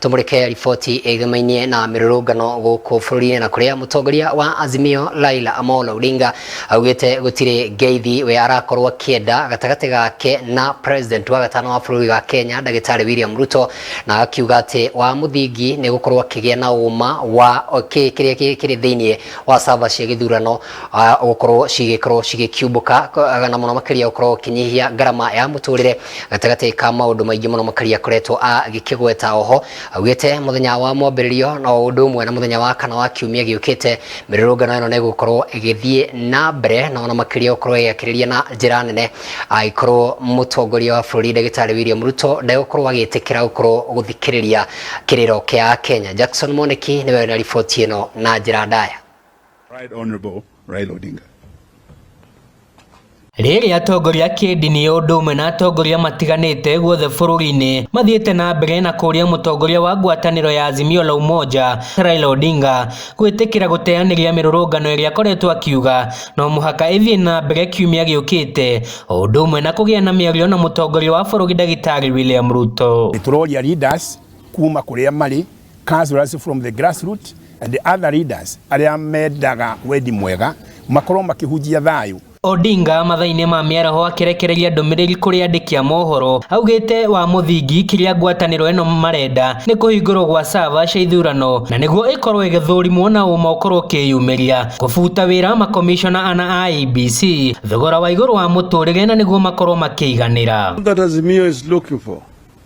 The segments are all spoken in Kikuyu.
Tumurike riboti ĩgĩmainie na mĩrũrũngano gũkũ bũrũri-inĩ na kũrĩa mũtongoria wa Azimio Laila Amolo Odinga augĩte gũtirĩ ngeithi we arakorwo akĩenda gatagatĩ gake na president wa gatano wa bũrũri wa Kenya ndagĩtarĩ William Ruto na akiuga atĩ wa mũthingi nĩ gũkorwo akĩgĩa na ũma wa kĩ- kĩrĩa kĩ- kĩrĩ thĩinĩ wa sava cia gĩthurano ah, gũkorwo cigĩkorwo cigĩkiumbũka ko- ah, na mũno makĩria gũkorwo ũkĩnyihia ngarama ya mũtũrĩre gatagatĩ ka maũndũ maingĩ mũno makĩria akoretwo agĩkĩgweta oho augĩte mũthenya wa mwambĩrĩrio na o ũndũ ũmwe na mũthenya wa kana wa kiumia gĩũkĩte mĩrũrũngano ĩno nĩ gũkorwo ĩgĩthiĩ na mbere na ona makĩria gũkorwo ĩgĩakĩrĩria na njĩra nene agĩkorwo mũtongoria wa bũrũri ndagĩtarĩ William Ruto ndegũkorwo agĩtĩkĩra gũkorwo gũthikĩrĩria kĩrĩro kĩa Kenya Jackson Moneki nĩwe na riboti ĩno na njĩra ndaya Right Honorable Raila Odinga. Rĩrĩ atongoria kĩndini ũndũ ũmwe na atongoria matiganĩte guothe bũrũri-inĩ mathiĩte na mbere na kũria mũtongoria wa ngwatanĩro ya Azimio la Umoja Raila Odinga gwĩtĩkĩra gũteanĩria mĩrũrũngano ĩrĩa akoretwo akiuga no mũhaka ĩthiĩ na mbere kiumia gĩũkĩte ũndũ ũmwe na kũgĩa na mĩario na mũtongoria wa bũrũri ndagĩtarĩ William Ruto. Nĩ tũroria leaders kuma kũrĩa marĩ councillors from the grassroots and the other leaders arĩa mendaga wendi mwega makorwo makĩhunjia thayũ Odinga mathainĩ ma mĩaraho akĩrekereria ndũmĩrĩri kũrĩ andĩki a mohoro augĩte wa mũthingi kĩrĩa ngwatanĩro ĩno marenda nĩ kũhingũrwo gwa sava cia ithurano na nĩguo ĩkorwo ĩgĩthũrimwo na ũma ũkorwo ũkĩyumĩria kũbuta wĩra makomishona ana a IEBC thogora wa igũrũ wa mũtũrĩre na nĩguo makorwo makĩiganĩra All that Azimio is looking for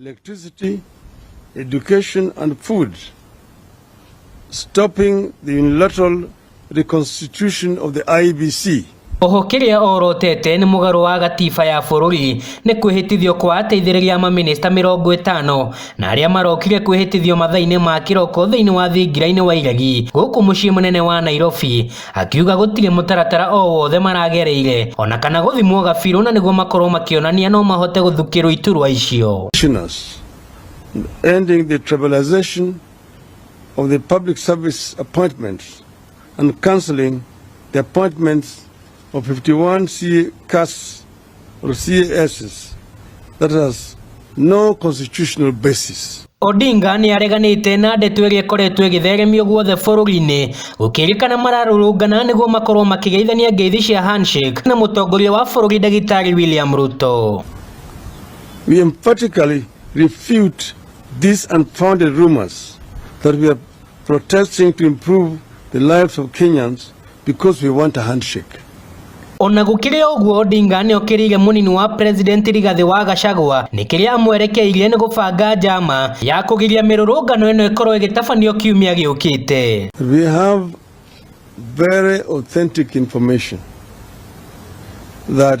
Electricity, education and food. Stopping the unilateral reconstitution of the IBC. Oho kiria orotete ni mugaru wa gatiba ya bururi ni kwihitithio kwa ateithiriria ma minista mirongo itano na aria marokire kwihitithio mathaini ma kiroko thiini wa thingira-ini wa iregi guku mucii munene wa Nairobi Akiuga gũtirĩ mũtaratara o wothe maragereire ona kana gũthimwo gabirũ na nĩguo makorwo makĩonania no mahote gũthukĩrwo iturwa icio. Pensioners, ending the tribalisation of the public service appointments and cancelling the appointments of 51 CAS or CASs that has no constitutional basis. Odinga nĩ areganĩte na ndeto ĩrĩa ĩkoretwo ĩgĩtheremio guothe bũrũri-inĩ gũkĩrĩkana mararũrũngana nĩguo makorwo makĩgeithania ngeithi cia handshake na mũtongoria wa bũrũri ndagĩtarĩ William Ruto. We emphatically refute these unfounded rumors that we have protesting to improve the lives of Kenyans because we want a handshake. Ona gũkĩrĩ ũguo Odinga nĩokĩrĩire mũnini wa president Rigathi wa Gachagua nĩ kĩrĩa amwerekeirie nĩ gũbanga njama ya kũgiria mĩrũrũngano ĩno ĩkorwo ĩgĩtabanio kiumia gĩũkĩte. We have very authentic information that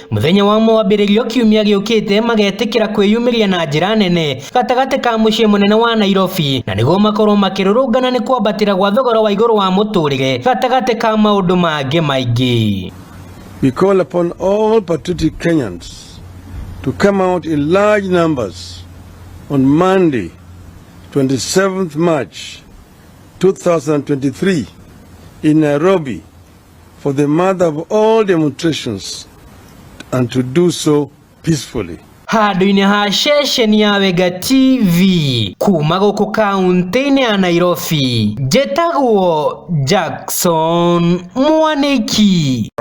Mũthenya wa mwambĩrĩrio kiumia gĩũkĩte magetĩkĩra kwĩyumĩria na njĩra nene gatagatĩ ka mũciĩ mũnene wa Nairobi na nĩguo makorwo makĩrũrũngana nĩ kwambatĩra gwa thogora wa igũrũ wa mũtũrĩre gatagatĩ ka maũndũ mangĩ maingĩ. We call upon all patriotic Kenyans to come out in large numbers on Monday, 27th March 2023 in Nairobi for the mother of all demonstrations and to do so peacefully. handũ-inĩ ha ceceni ya Wega TV kuma gũkũ kaunti-inĩ ya Nairobi njĩtagwo Jackson Mwaniki